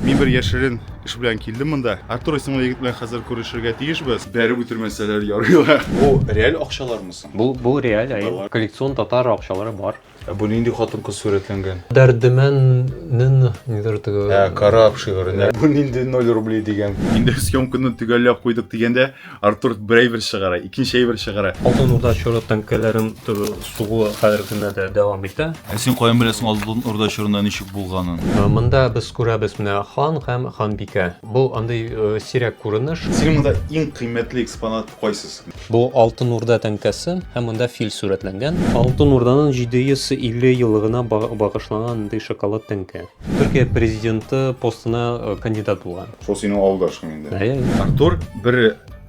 Мин бер яшерен эш белән килдем монда. Артур исемле егет белән хәзер күрешергә тиешбез. Бәреп үтермәсәләр ярыйлар. Бу реаль акчалармы соң? Бу, бу реаль, әйе. Коллекцион татар акчалары бар. Ә бу нинди хатын-кыз сурәтләнгән? Дәрдемә н-н нидер теге. Ә, Кораб шигыренә. Бу нинди ноль рублей дигән? Инде съемканы төгәлләп куйдык дигәндә, Артур бер әйбер чыгара, икенче әйбер чыгара. Алтын Урда чоры тәңкәләрен сугуы хәзерге көндә дә дәвам итә. Ә син каян беләсең Алтын Урда чорында ничек булганын? Монда без күрәбез менә хан һәм ханбикә. Бу андый сирәк күренеш. Синең монда иң кыйммәтле экспонат кайсысы? Бу Алтын Урда тәңкәсе һәм монда фил сурәтләнгән. Алтын Урданың 750 еллыгына багышланган андый шоколад тәңкә. Төркия президенты постына кандидат булган. Шул синең авылдашың инде. Әйе, әйе. Артур бер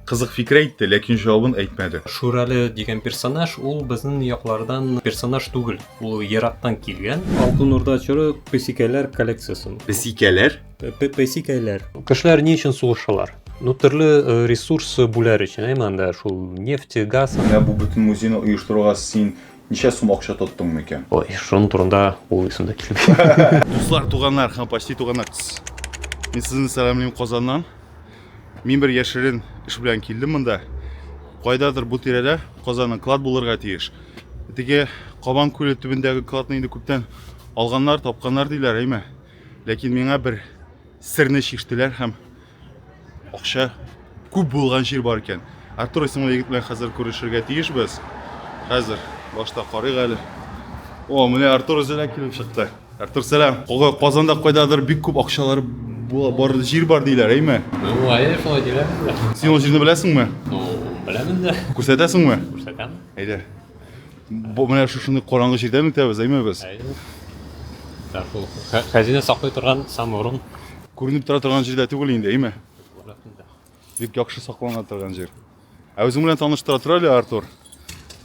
кызык фикер әйтте, ләкин җавабын әйтмәде. Шүрәле дигән персонаж ул безнең яклардан персонаж түгел, ул ерактан килгән. Алтын Урда чоры песикәләр коллекциясе. Песикәләр? Песикәләр. Кешеләр ни өчен сугышалар? Ну, төрле э, ресурс бүләр өчен, әйме анда шул нефть, газ. Менә бу бөтен музейны оештыруга син Ничә сум акча тоттың микән? Ой, шуның турында ул исемдә килми. Дуслар, туганнар һәм почти туганнар. Мин сезне сәламлим Казаннан. Мин бер яшерен эш белән килдем монда. Кайдадыр бу тирәдә Казанның клад булырга тиеш. Теге Кабан күле төбендәге кладны инде күптән алганнар, тапканнар диләр, әйме. Ләкин миңа бер серне чиштеләр һәм Акча күп булган җир бар икән. Артур исемле егет белән хәзер күрешергә тиешбез. Хәзер башта карыйк әле. О, менә Артур үзенә килеп чыкты. Артур, сәлам. Кога Казанда кайдадыр бик күп акчалар бар җир бар диләр, әйме? Уңае шулай диләр. Син ул җирне беләсеңме? Беләмен дә. Күрсәтәсеңме? Күрсәтәм. Әйдә. Бу менә шушындый караңгы җирдән үтәбез, әйме без? Әйе. Шул хәзинә саклый торган саморон. Күренеп тора торган җирдә түгел инде, әйме? Бик яхшы саклана торган җир. Ә үзең белән таныштыра тор әле, Артур.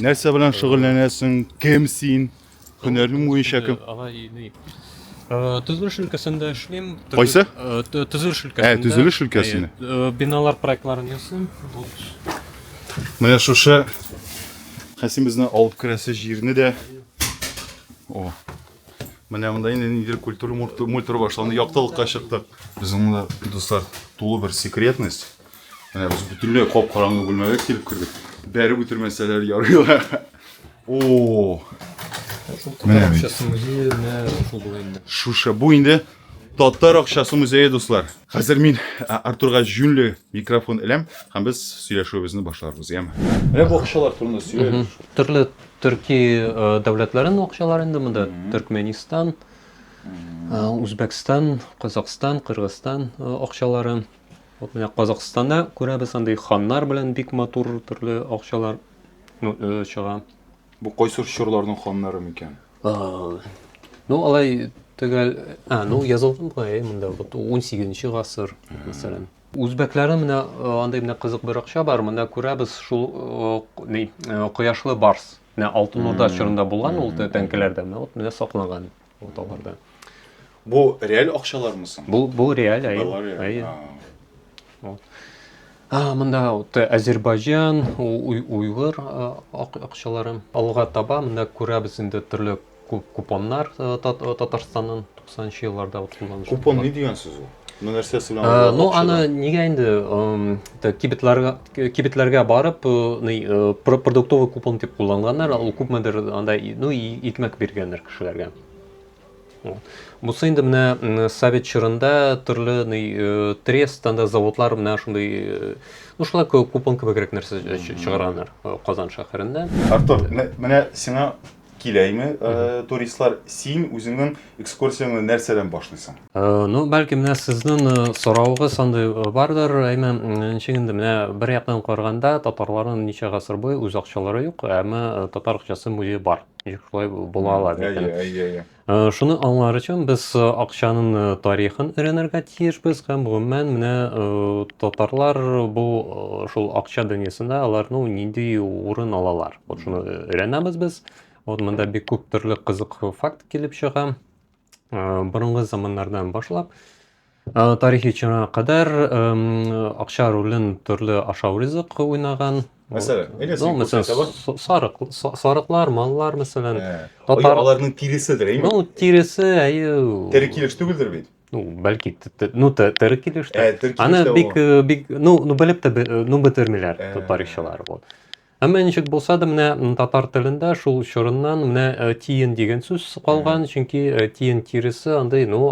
Нәрсә белән шөгыльләнәсең? Кем син? Һөнәрең буенча кем? Э, төзелеш өлкәсендә эшлим. Кайсы? Э, төзелеш өлкәсендә. Ә, төзелеш өлкәсендә. Э, биналар проектларын ясыйм. Менә шушы Хәсимезне алып керәсе җирне дә. О. Менә монда инде нидер культура мультур башланды. Яктылыкка чыктык. Безнең монда дуслар тулы бер секретность. Менә без бөтенләй кап-караңгы бүлмәгә килеп кердек. Бәреп үтермәсәләр ярыйлар. О. Менә бит. Шуша бу инде Татар акчасы музее, дуслар. Хәзер мин Артурга җүнле микрофон эләм һәм без сөйләшүебезне башларбыз, яме. Менә бу акчалар турында сөйләйбез. Төрле төрки дәүләтләрнең акчалары инде монда. Төркменистан, Үзбәкстан, Казакъстан, Кыргызстан акчалары. Вот менә Казакъстанда күрәбез андый ханнар белән бик матур төрле акчалар чыга. Бу кайсы чорларның ханнары микән? Ну, алай төгәл, а, ну, язылган була, э, монда вот 18-нче гасыр, мәсәлән. Үзбәкләрдә менә андый менә кызык бер акча бар, монда күрәбез шул ни, кояшлы барс. Менә Алтын Урда чорында булган ул тәңкеләрдә, менә вот менә сакланган вот аларда. Бу реаль акчалармы соң? Бу, бу реаль, әйе. Бу реаль. Әйе. Вот. А, монда вот Азербайҗан, уйгыр акчалары. Алга таба монда күрәбез инде төрле купоннар Татарстаннан 90 елларда вот кулланыш. Купон ни дигән сүз ул? Ну, нәрсәсе белән? Ну, аны нигә инде кибетләргә кибетләргә барып, продуктовый купон дип кулланганнар, ул күпмедер анда, ну, икмәк биргәннәр кешеләргә. Бусы инде менә совет чорында төрле ни трест анда заводлар менә шундый ну шулай купон кебегрәк нәрсә чыгарганнар Казан шәһәрендә. Артур, менә сиңа киләйме туристлар, син үзеңнең экскурсияңне нәрсәдән башлыйсың? Ну, бәлки менә сезнең соравыгыз андый бардыр, әмма ничек инде менә бер яктан караганда татарларның ничә гасыр буе үз акчалары юк, әмма татар акчасы музее бар. шулай була ала микән әйе әйе әйе э, шуны аңлар өчен без э, акчаның э, тарихын өйрәнергә тиешбез һәм гомумән менә татарлар бу шул акча дөньясында алар ну нинди урын алалар вот шуны өйрәнәбез без вот монда бик күп төрле кызык факт килеп чыга борынгы заманнардан башлап тарихи чорга кадәр акча ролен төрле ашау ризык уйнаган сарык сарыклар маллар мәсәлән татар аларның тиреседер әйме ну тиресе әйе тере килеш түгелдер бит ну бәлки ну тере килеш аны бик бик ну ну белеп тә ну бетермиләр тарихчылар вот Әмма ничек булса да, менә татар телендә шул чорыннан менә тиен дигән сүз калган, чөнки тиен тиресе андый, ну,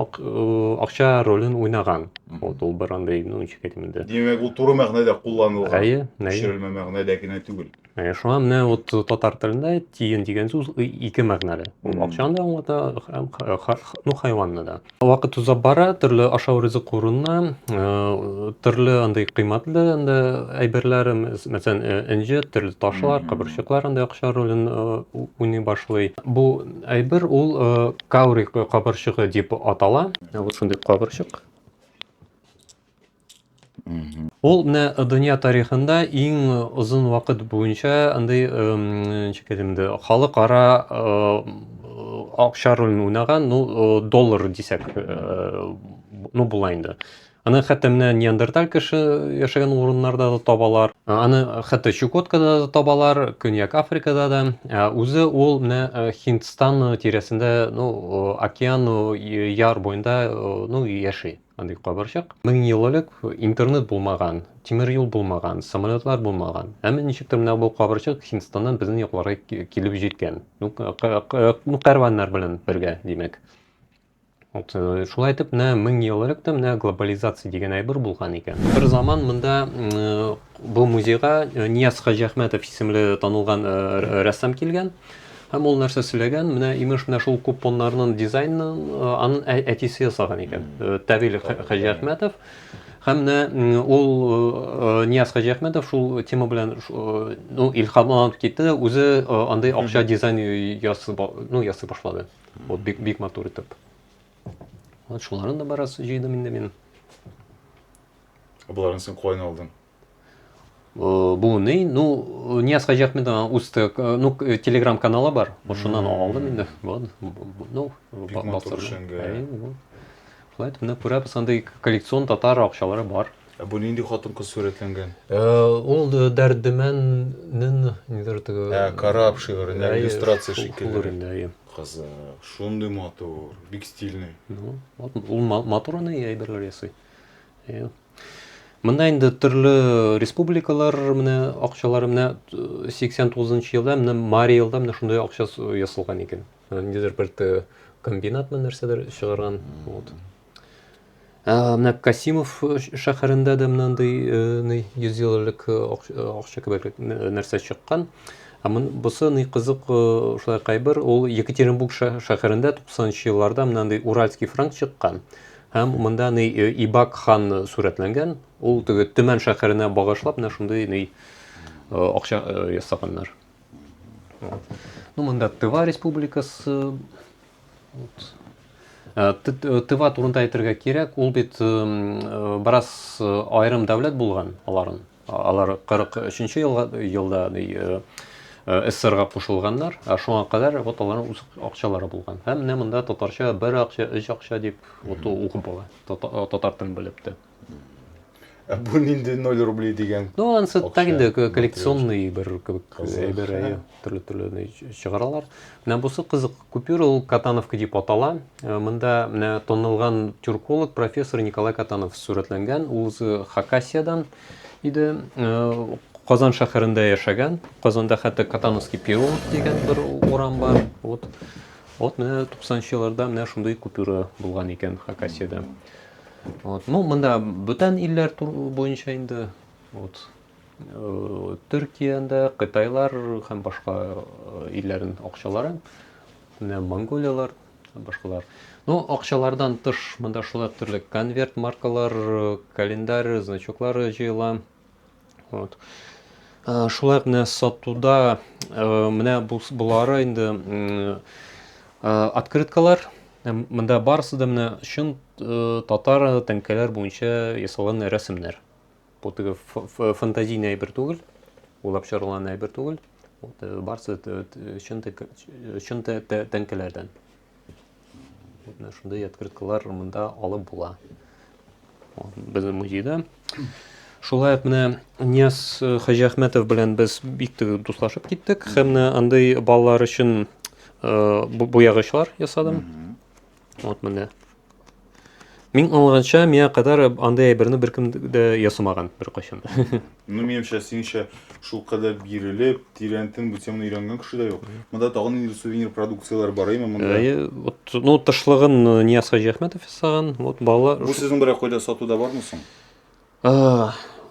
акча ролен уйнаган. Вот ул бер андый, ну, ничек әйтим инде. Димәк, ул туры мәгънәдә кулланылган. Әйе, әйе. Төшерелмә мәгънәдә генә түгел. Әйе, шуңа менә вот татар телендә тиен дигән сүз ике мәгънәле. Ул акчаны да аңлата, һәм ну, хайванны да. Вакыт уза бара, төрле ашау ризык урынына, э, төрле андый кыйммәтле инде әйберләр, м, с- мәсәлән, э, энҗе, төрле ташлар, кабырчыклар андый акча ролен э, у- уйный башлый. Бу әйбер ул э, каури кабырчыгы дип атала. Ә вот шундый кабырчык. Ул менә дөнья тарихында иң озын вакыт буенча андый ничек әйтим инде халыкара акча ролен уйнаган, ну доллар дисәк, ну була инде. Аны хәтта менә неандерталь кеше яшәгән урыннарда да табалар. Аны хәтта Чукоткада да табалар, Көньяк Африкада да. Үзе ул менә Һиндстан тирәсендә, ну, океан яр буенда, ну, яши. Андый кабырчык. Мең ел элек интернет булмаган, тимер юл булмаган, самолетлар булмаган. Әмма ничектер менә бу кабырчык Һиндстаннан безнең якларга килеп җиткән. Ну, ну кәрваннар белән бергә, димәк. Вот, э, шулай итеп, менә мең ел элек тә менә глобализация дигән әйбер булган икән. Бер заман монда э, Бу музейга Нияз Хаҗиәхмәтов исемле танылган рәссам килгән һәм ул нәрсә сөйләгән, менә имеш менә шул купоннарның дизайнын анын әтисе ясаган икән, Тәгыйль Хаҗиәхмәтов. Һәм менә ул Нияз Хаҗиәхмәтов шул тема белән ну илһамланып китте, үзе андый акча дизайн ясый, ну ясый башлады. Вот бик бик матур итеп. Вот шуларны да бераз җыйдым инде мин. Боларның сен кулай алдың. Э, бу ни? Ну, Нияз Хаҗиахмедов аның үз э, ну, э, телеграм каналы бар. Шуннан алдым инде. Вот. Ну, басып. Шулай итеп, менә күрәбез, андый коллекцион татар акчалары бар. Ә бу нинди хатын-кыз сурәтләнгән? Э, ул э, Дәрдемәннең нидер теге Ә, Караб шигыренә иллюстрация шикелле. Кызык, шундый матур, бик стильный. Ну, вот ул матур аны әйберләр ясый. Э, Монда инде төрле республикалар менә акчалары менә 89 э, елда менә Мари елда менә шундый акча ясалган икән. Э, ниндидер бер э, комбинат менә нәрсәдер чыгарган. Вот. Менә Касимов шәһәрендә дә мынандай 100 ел элек акча кебек нәрсә чыккан. Ә мон бусы ни кызык шулай кайбер ул Екатеринбург шәһәрендә 90 елларда мынандай Уральский франк чыккан. Һәм монда ни Ибак хан сурәтләнгән, ул теге Төмән шәһәренә багышлап менә шундый ни акча ясаганнар. Ну, монда Тыва республикасы Э, э, тыва турында әйтергә кирәк ул бит э, бераз айрым дәүләт булган аларын Алар 43 елга елда СССРга кушылганнар, ә шуңа кадәр вот аларның үз акчалары булган. Һәм менә монда татарча бер акча, өч акча дип вот укып була. Татар телен белеп тә. Ә бу нинди 0 рублей дигән? Ну, ансы так инде коллекционный бер кебек әйбер. төрле төрле чыгаралар менә бусы кызык купюра ул катановка дип атала э, монда менә танылган тюрколог профессор николай катанов сурәтләнгән ул үзе хакасиядан иде э, казан шәһәрендә яшәгән казанда хәтта катановский переулок дигән бер урам бар вот вот менә туксанынчы елларда менә шундый купюра булган икән хакасияда вот ну монда бүтән илләр буенча инде вот Төркиядә кытайлар һәм башка илләрнең акчалары, менә монголиялар, башкалар. Ну, акчалардан тыш монда шулай төрле конверт маркалар, календарь, значоклар җыела. Вот. Шулай менә сатуда менә булары инде открыткалар. Монда барысы да менә чын татар тәңкәләр буенча ясалган рәсемнәр. Бу теге фантазийный әйбер түгел, уйлап чыгарылган әйбер түгел. Барсы чын чын тәңкәләрдән. Вот менә шундый открыткалар монда алып була. Безнең музейда Шулай ук менә Нияз э, Хаҗиәхмәтов белән без бик теге дуслашып киттек һәм менә андый балалар өчен э, буягычлар ясадым. Вот менә. Мин аңлаганча, миңа кадәр андый әйберне беркем дә ясамаган беркайчан. Ну, минемчә, синчә шул кадәр бирелеп, тирәнтен бу теманы өйрәнгән кеше дә юк. Монда тагын инде сувенир продукцияләр бар, әйме монда? Әйе, вот, ну, тышлыгын э, Нияз Хаҗиәхмәтов ясаган, вот, балалар... Бу сезнең берәр кайда сатуда бармы соң?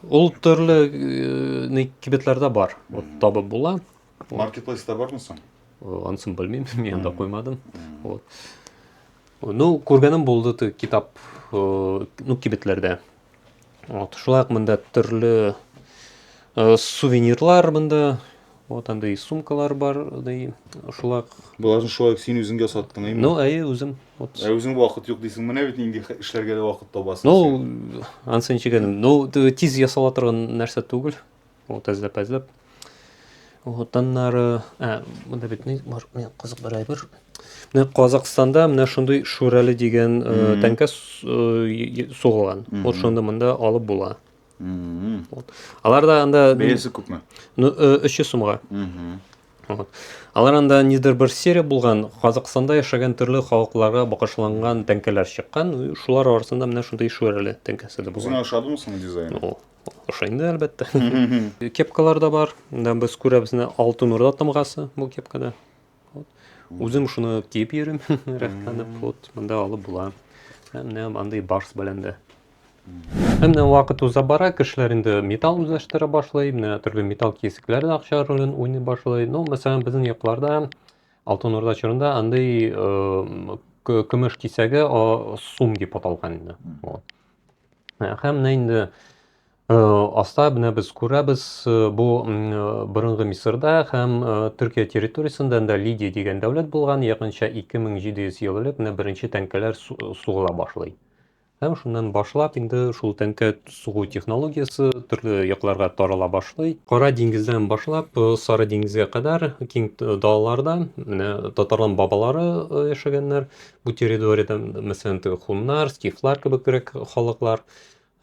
Ул төрле э, кибетләрдә бар, вот, табып була. Маркетплейста бармы соң? Анысын белмим, мин да куймадым. Вот. Ну, күргәнем булды ты китап, э, ну, кибетләрдә. Вот, шулай монда төрле э, сувенирлар монда, вот андай сумкалар бар, андай шулай. Боларын шулай син үзеңгә саттың, әйме? Ну, әйе, үзем. Вот. Ә үзең вакыт юк дисең, менә бит инде эшләргә дә вакыт табасың. Ну, ансын чигәнем. Ну, тиз ясала торган нәрсә түгел. Вот әзләп әзләп. Вот аннары, ә, монда бит ни бар? Менә кызык бер әйбер. Менә Казакъстанда менә шундый шүрәле дигән тәңкә сугылган. Вот шундый монда алып була. Вот. Аларда анда бәясе күпме? Ну, 300 сумга. Вот. Алар анда нидер бер серия булган, Казакъстанда яшәгән төрле халыкларга багышланган тәңкәләр чыккан. Шулар арасында менә шундый шүрәле тәңкәсе дә булган. Үзеңә ошадымы соң дизайн? Ошо инде, әлбәттә. Кепкалар да бар. Монда без күрәбез менә Алтын Урда тамгасы бу кепкада. Вот. Үзем шуны киеп йөрим, рәхәтләнеп. Вот, монда алып була. Һәм менә андый барс белән дә. Һәм менә вакыт уза бара, кешеләр инде металл үзләштерә башлый, менә төрле металл кисекләр дә акча ролен уйный башлый. Ну, мәсәлән, безнең якларда Алтын Урда чорында андый э, к- көмеш кисәге а, сум дип аталган инде. Вот. Һәм менә инде аста менә без күрәбез бу борынгы Мисырда һәм Төркия территориясендә дә Лидия дигән дәүләт булган, якынча 2700 ел элек менә беренче тәңкәләр сугыла башлый. Һәм шуннан башлап инде шул тәңкә сугу технологиясе төрле якларга тарала башлый. Кара диңгездән башлап Сары диңгезгә кадәр киң далаларда менә татарлар бабалары яшәгәннәр. бу территориядә, мәсәлән, теге хуннар, скифлар кебегрәк халыклар.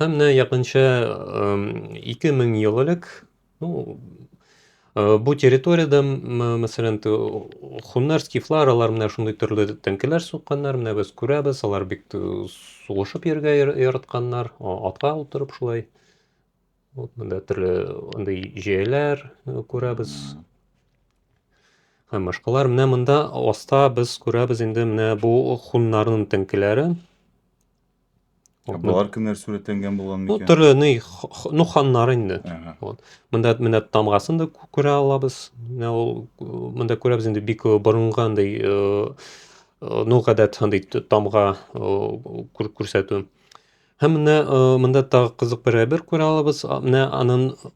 Һәм менә якынча 2000 ел элек, ну, э, бу территориядә, мәсәлән, хуннар, скифлар, алар менә шундый төрле тәңкеләр сукканнар, менә без күрәбез, алар бик сугышып йөргә яратканнар, атка утырып шулай вот мында төрле андый җәяләр э, күрәбез һәм башкалар менә монда аста без күрәбез инде менә бу хуннарның теңкеләре Болар кемнәр сурәтләнгән булган микән? Бу төрле ни ну ханнар инде. Вот. Монда менә тамгасын да күрә алабыз. Менә ул монда күрәбез инде бик э, борынгы андый э, э, ну гадәт андый тамга күрсәтү. Һәм менә э, монда тагы кызык бер әйбер күрә алабыз. Менә аның э,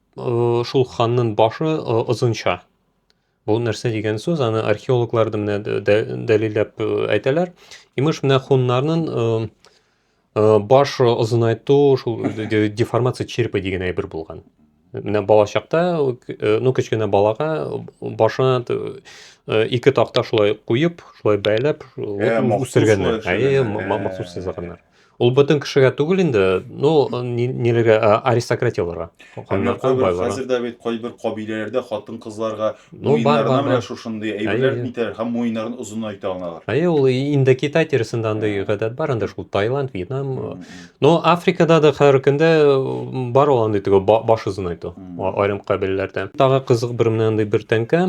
шул ханның башы э, озынча. Бу нәрсә дигән сүз? Аны археологлар да менә дәлилләп әйтәләр. Имеш менә хуннарның баш озынайту, шул деформация черепа дигән әйбер булган. Менә балачакта, э, ну, кечкенә балага башына э, ике такта шулай куеп, шулай бәйләп, э, үстергәннәр. Әйе, махсус сызганнар. Ул бөтен кешегә түгел инде, ну, ниләргә аристократияләргә. Хәзер дә бит кайбер кабиләләрдә хатын-кызларга Ну, бар, бар, бар. шушындый әйберләр нитәр һәм муеннарын озынайта аналар. Әйе, ул инде Китай тирәсендә андый гадәт бар, анда шул Таиланд, Вьетнам. Но Африкада да хәзер көндә бар ул андый теге баш озынайту айрым кабиләләрдә. Тагы кызык бер менә андый бер тәңкә.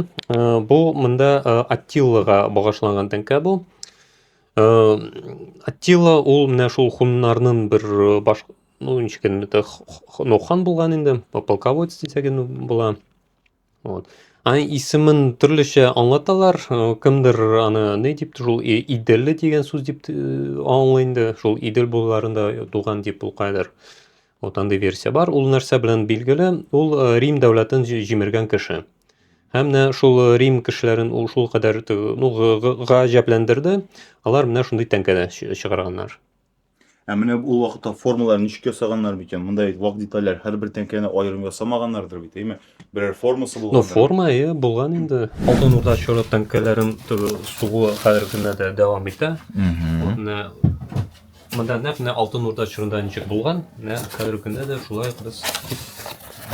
Бу монда Аттиллага багышланган тәңкә бу. Аттилла ул менә шул хуннарның бер баш ну ничек инде ну хан булган инде полководец дисәген була Вот. Аны исемен төрлечә аңлаталар. Э, кемдер аны не дип шул иделле дигән сүз дип э, аңлый инде. Шул идел булларында туган дип ул кадәр. Вот андый версия бар. Ул нәрсә белән билгеле? Ул э, Рим дәүләтен җимергән кеше. Һәм менә шул Рим кешеләрен ул шул кадәр ну гаҗәпләндерде. Алар менә шундый тәңкәдә чыгарганнар. Ә менә ул вакытта формалар ничек ясаганнар микән? Монда бит вак детальләр, һәрбер тәңкәне аерым ясамаганнардыр бит, әйме? Берәр формасы Ну, булгандыр. форма, әйе, булган инде. Алтын Урда чоры тәңкәләрен тө- сугуы хәзерге көндә дә дәвам итә. Мгм. Менә монда нәкъ менә Алтын Урда чорында ничек булган, менә хәзерге көндә дә шулай ук без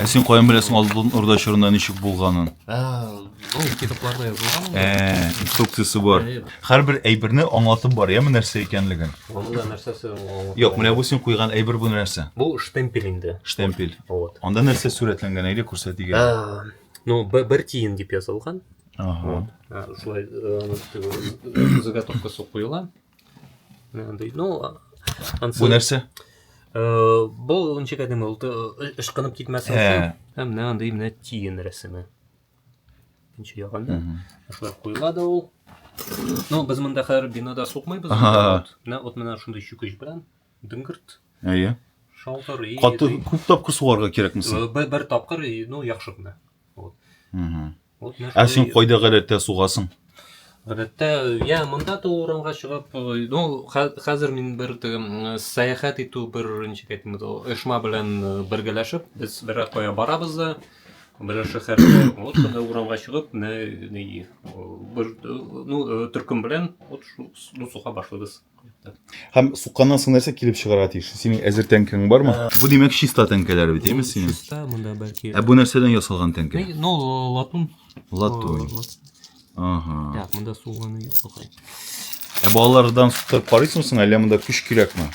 Ә син каян беләсең Алтын Урда чорында ничек булганын? Ә, Ә, инструкциясе бар. Һәрбер әйберне аңлатып бар, яме нәрсә икәнлеген. Монда нәрсәсе аңлатып? Юк, менә бу син куйган әйбер бу нәрсә? Бу штемпель инде. Штемпель. Вот. Анда нәрсә сурәтләнгән, әйдә күрсәтегез. Ну, бер тиен дип язылган. Ага. Шулай заготовкасы куела. Ну, Бу нәрсә? Бу ничек әдеме, ул ышкынып китмәсен. Һәм менә андый менә тиен рәсеме. икенче ягында шулай куела да ул но без монда хәзер бинада сукмыйбыз менә вот менә шундый чүкеч белән дөңгерт әйе шалтырый каты күп тапкыр сугарга кирәкме соң э, бер тапкыр ну яхшы гына вот ә син кайда гадәттә сугасың Гадәттә, я монда да урамга чыгып, ну, хәзер мин бер сәяхәт итү бер ничек әйтим, оешма белән бергәләшеп, без бер кая барабыз да, бер шәһәргә, вот шунда урамга чыгып, не, не, бер, ну, төркем белән, вот, ну, суха башлыйбыз. Һәм сукканнан соң нәрсә килеп чыгарга тиеш? Синең әзер тәңкәң бармы? Бу димәк чиста тәңкәләр бит, әйме синең? Чиста, монда бәлки. Ә бу нәрсәдән ясалган тәңкә? Ну, латун. Латун. Ага. Так, монда суганы юк бакай. Ә балалардан сукып карыйсыңмы соң, әллә монда көч кирәкме?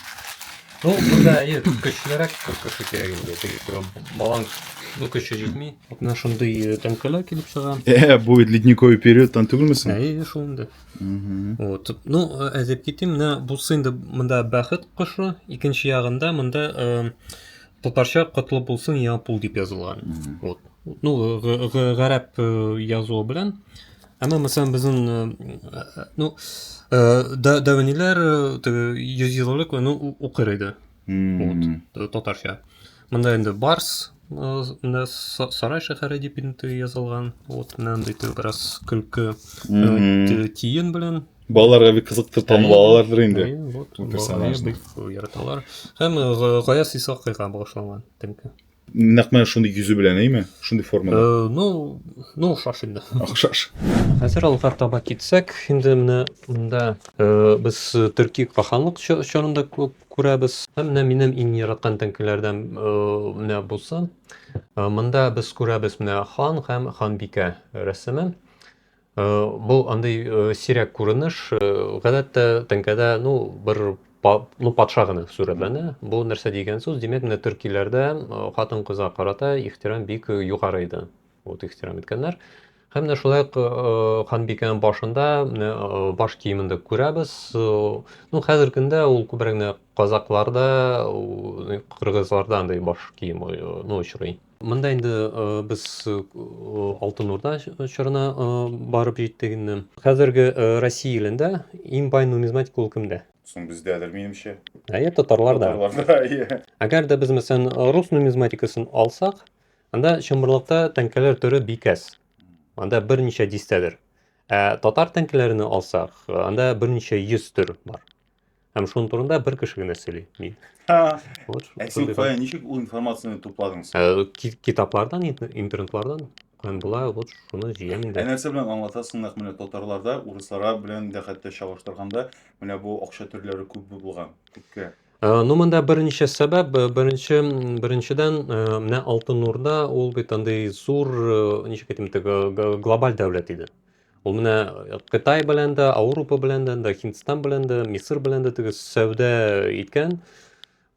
Ну, монда әйе, көчлерәк кеше кирәк инде. Балаң ну көче җитми. Менә шундый тәңкәләр килеп чыга. Э, бу бит ледниковый периодтан түгелме соң? Әйе, шул инде. Вот. Ну, әзеп китим, менә бусы инде монда бәхет кошы, икенче ягында монда э, татарча котлы булсын япул дип язылган. Вот. Ну, гарәп э, язуы белән. Әмма мәсәлән безнең э, ну, дәвәниләр 100 еллык аны укыр иде. вот э, татарча мында инде барс мында сарай шәһәре дип инде язылган вот менә андый бераз көлке тиен белән балаларга бик кызыктыр танып алалардыр инде вот персонажны яраталар һәм гаяз исхакыйга багышланган теңке Нәкъ менә шундый йөзе белән, әйме? Шундый формада. Э, ну, ну охшаш инде. Охшаш. Хәзер алга таба китсәк, инде менә монда э, без төрки каханлык чорында күрәбез. Һәм менә минем иң яраткан тәңкеләрдән э, менә булса, монда без күрәбез менә хан һәм ханбикә рәсеме. Э, Бу андый э, сирәк күренеш. Э, Гадәттә теңкәдә ну бер па- ну патша гына сурәтләнә. Бу нәрсә дигән сүз? Димәк, менә төркиләрдә э, хатын-кызга карата ихтирам бик э, югары иде. Вот ихтирам иткәннәр. Һәм менә шулай ук э, ханбикәнең башында менә э, баш киемен дә күрәбез. Э, Ну хәзер көндә ул күбрәк менә казакларда, э, кыргызларда андый баш кием э, ну очрый. Монда инде без Алтын Урда чорына барып җиттек инде. Хәзерге Россия илендә иң бай нумизматик ул кемдә? Соң бездәдер, минемчә. Әйе, татарларда. Татарларда, әйе. Әгәр дә без, мәсәлән, рус нумизматикасын алсак, анда чынбарлыкта тәңкәләр төре бик әз. Анда берничә дистәдер. Ә татар тәңкәләрен алсак, анда берничә йөз төр бар. Һәм шуның турында бер кеше генә сөйли, мин. Вот, Ә син шундый кая ничек ул информацияне тупладың син? Ә, ки- Китаплардан, ин- интернетлардан һәм болай вот шуны җыям Ә инде. нәрсә белән аңлатасың нәкъ менә татарларда урысларга белән дә хәтта чагыштырганда менә бу акча төрләре күп булган күпкә Ә, Ну, монда берничә сәбәп. Б- Беренче, м, беренчедән, ә, менә Алтын Урда ул бит андый зур, ә, ничек әйтим, теге г- глобаль дәүләт иде. Ул менә Кытай белән дә, Аурупа белән дә, да Һиндстан белән дә, Мисыр белән дә теге сәүдә иткән.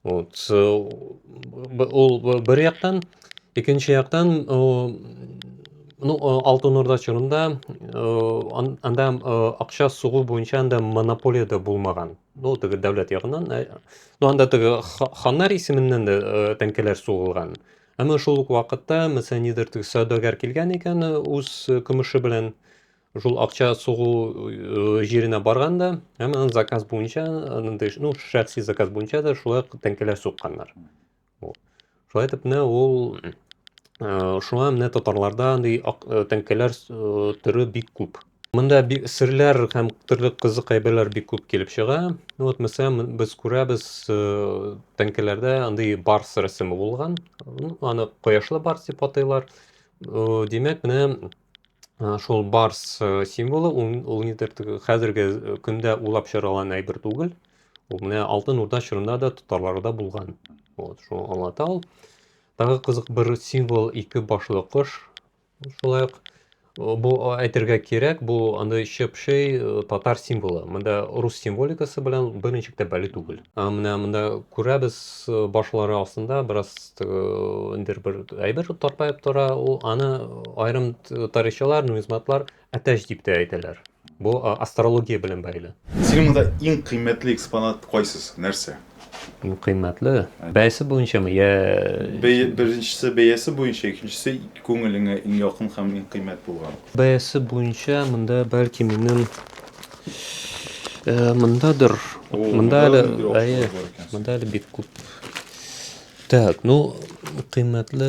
Вот. Ул бер яктан, икенче яктан, ну, Алтын Орда чорында анда акча сугу буенча анда монополия дә булмаган. Ну, теге дәүләт ягыннан, ну, анда теге ханнар исеменнән дә тәңкәләр сугылган. Әмма шул ук вакытта мәсәлән нидер сәүдәгәр килгән икән үз көмеше белән шул акча сугу э, җиренә барганда һәм аның заказ буенча андый ну шәхси заказ буенча да шулай тәңкәләр сукканнар шулай итеп менә ул э, шуңа менә татарларда андый э, тәңкәләр төрү бик күп Монда бик серләр һәм төрле кызык әйберләр бик күп килеп чыга. Ну вот мәсәлән, м- без күрәбез, э, тәңкәләрдә андый барс рәсеме булган. Ну, аны кояшлы барс дип атыйлар. Э, Димәк, менә э, шул барс э, символы ул ул нидер теге хәзерге э, көндә улап чаралган әйбер түгел. Ул менә Алтын Урда чорында да татарларда булган. Вот, шуны аңлата ул. Тагы кызык бер символ ике башлы кош. Шулай ук бу әйтергә кирәк, бу андый чыпшый татар символы. Монда рус символикасы белән берничек тә бәли түгел. Менә монда күрәбез башлары астында бераз индер бер әйбер тартпаеп тора. Ул аны аерым тарихчылар, нумизматлар Әтәч дип тә әйтәләр. Бу астрология белән бәйле. Синең монда иң кыйммәтле экспонат кайсысы? Нәрсә? Иң кыйммәтле? Бәясе буенчамы? Я... Бәя, беренчесе бәясе буенча, икенчесе күңелеңә иң якын һәм иң кыйммәт булган. Бәясе буенча монда бәлки минем э, мондадыр. Монда әле, әйе, монда әле бик күп. Так, ну, кыйммәтле,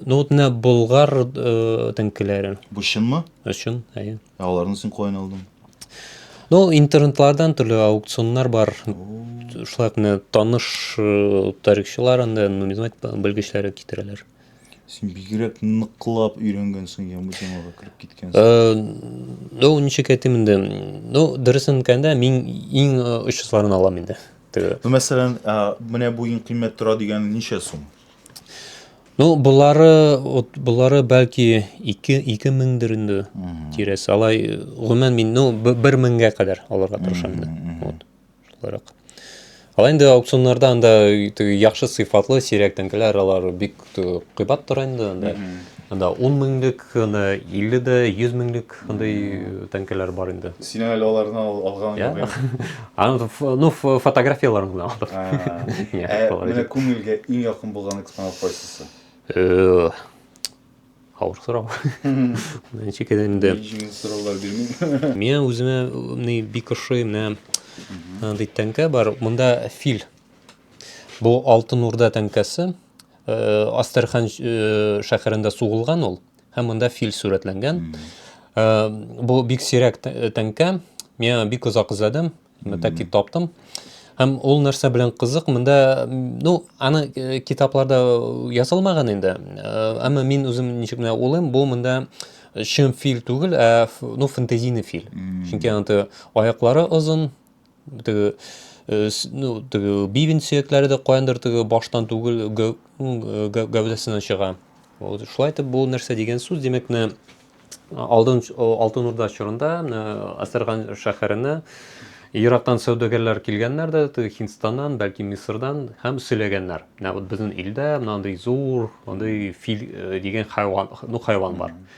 ну, вот менә болгар э, тәңкеләре. Бу чынмы? Өчен, әйе. Ә аларны син каян алдың? Ну, интернетлардан төрле аукционнар бар. Шулай ук менә таныш э, тарихчылар анда нумизмат белгечләре китерәләр. Син бигрәк ныклап өйрәнгәнсең я бу темага кереп киткәнсең. Э, ну, ничек әйтим инде? Ну, дөресен әйткәндә, мин иң э, очысларын алам инде. Теге. Ну, мәсәлән, а, менә бу иң кыйммәт тора дигән ничә сум? Ну, болары, вот, болары бәлки 2 2 меңдер инде тирәсе. Алай э, гомумән мин, ну, 1 меңгә кадәр алырга тырышам инде. Вот. Шуларак. Алай инде аукционнарда анда теге яхшы сыйфатлы сирәктән киләр, алар бик кыйбат тора инде анда. Анда 10 меңлек, анда 50 дә, 100 меңлек андый тәңкәләр бар инде. Син әле аларны алган юк инде. Аны, ну, фотографияләрен генә алдым. Ә менә күңелгә иң якын булган экспонат кайсысы? Авыр сорау. Ничек инде? Җиңел сораулар бирмим. Миңа үземә бик ошый менә андый тәңкә бар. Монда фил Бу Алтын Урда тәңкәсе Астерхан шәһәрендә сугылган ул һәм монда фил сурәтләнгән. Бу бик сирәк тәңкә. Мин бик озак эзләдем, мәтәк таптым. Һәм ул нәрсә белән кызык, монда, ну, аны э, китапларда язылмаган инде. Э, әмма мин үзем ничек менә улым, бу монда чын фил түгел, ә ну фэнтезийный фил. Чөнки аны аяклары озын, теге э, ну, теге бивен сөякләре дә каяндыр теге баштан түгел гәү, гәү, гәүдәсеннән чыга. Вот, шулай итеп бу нәрсә дигән сүз, димәк, менә Алдын, Алтын Урда чорында Әсәрган шәһәренә ерактан сәүдәгәрләр килгәннәр дә, Һиндстаннан, бәлки Мисырдан һәм сөйләгәннәр. Менә вот безнең илдә мондый зур, мондый фил э, дигән хайван, ну хайван бар.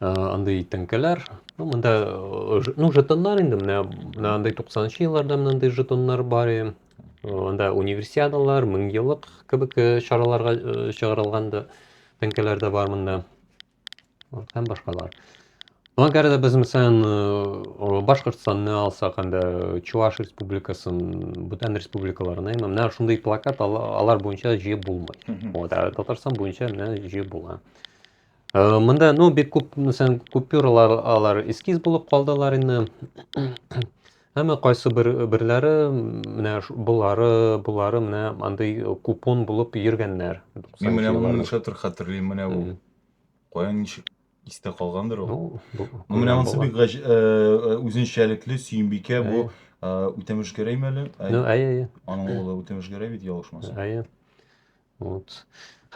андый тәңкәләр ну монда ну жетоннар инде менә менә андый туксанынчы елларда менә андый жетоннар бар анда универсиадалар мең еллык кебек чараларга чыгарылган да тәңкәләр дә бар монда һәм башкалар ну әгәр дә без мәсәлән башкортстанны алсак анда чуваш республикасын бүтән республикаларны менә шундый плакат алар буенча җыеп булмый вот ә татарстан буенча менә җыеп була Э, Монда, ну, бик күп, мәсәлән, купюралар алар эскиз булып калдылар инде. Әмма кайсы бер берләре менә булары, булары менә андый купон булып йөргәннәр. Мин менә моны нишләтер хәтерлим, менә бу. Кая ничек истә калгандыр ул. Ну, менә монысы бик э, э, үзенчәлекле Сөембикә бу Үтәмеш Гәрәйме әле? Ну, әйе, әйе. Аның улы Үтәмеш Гәрәй бит ялгышмасам. Әйе. Вот.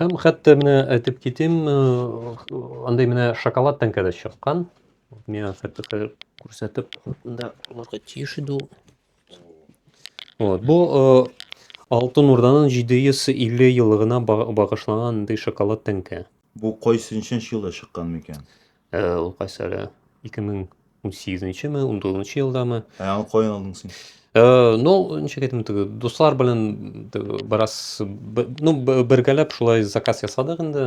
Һәм хәтта менә әйтеп китим, андый менә шоколад тәңкәдә чыккан. Миңа хәтта хәзер күрсәтеп, монда булырга тиеш иде ул. Вот. Бу Алтын Урданың 750 еллыгына багышланган андый шоколад тәңкә. Бу кайсынчы елда чыккан микән? Ә ул кайсы әле? 2018-ме, 19 елдамы? Ә аны каян алдың син? Э, ну ничек әйтим теге дуслар белән бераз ну бергәләп шулай заказ ясадык инде